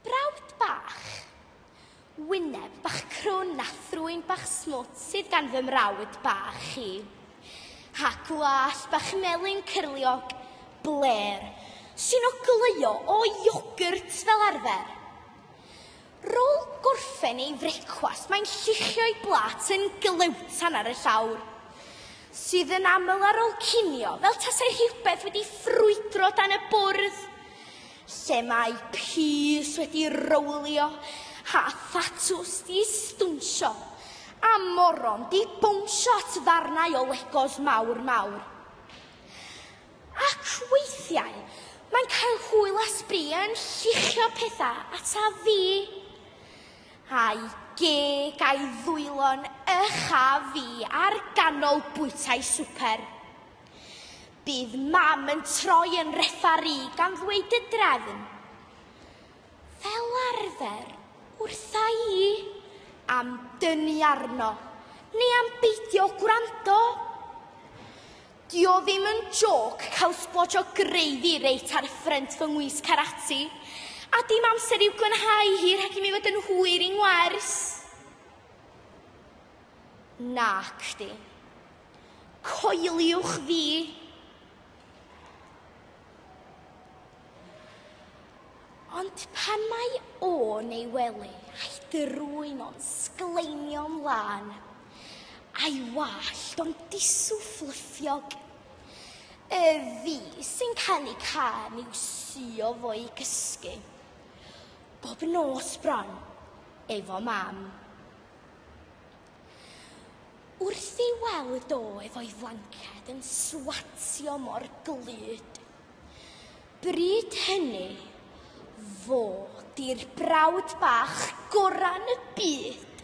Brawd bach. Wyneb bach crwn a thrwyn bach smwt sydd gan fy mrawd bach i. Ha gwall bach melyn cyrliog, bler, sy'n ogleuo o iogwrt fel arfer. Rôl gorffen ei frecwast mae'n lluchio'i blat yn glewtan ar y llawr, sydd yn aml ar ôl cinio, fel tasai rhywbeth wedi ffrwydro dan y bwrdd, lle mae pys wedi rowlio, a thatws 'di stwnsio, a moron 'di bownsio at ddarnau o legos mawr mawr. Ac weithiau, mae'n cael hwyl a sbri yn lluchio pethau ataf fi. A'i geg a'i ddwylo'n uchaf fi ar ganol bwytai swper. Bydd Mam yn troi yn refari gan ddweud y drefn. Fel arfer, wrtha i, am dynnu arno, neu am beidio gwrando. Dio ddim yn jôc cael sblotsh o gravy reit ar ffrynt fy ngwys karate, a dim amser i'w glanhau hi rhag i mi fod yn hwyr i ngwers. Nacdi. Coeliwch fi. Ond pan mae o'n ei wely a'i drwyn o'n sgleinio mlan, a'i wallt o'n disw fflyffiog, y fi sy'n cael ei cân i'w suo fo'i gysgu, bob nos bron, efo mam. Wrth ei weld o efo'i flanced yn swatio mor glyd, Bryd hynny, fo 'di'r brawd bach gorau yn y byd!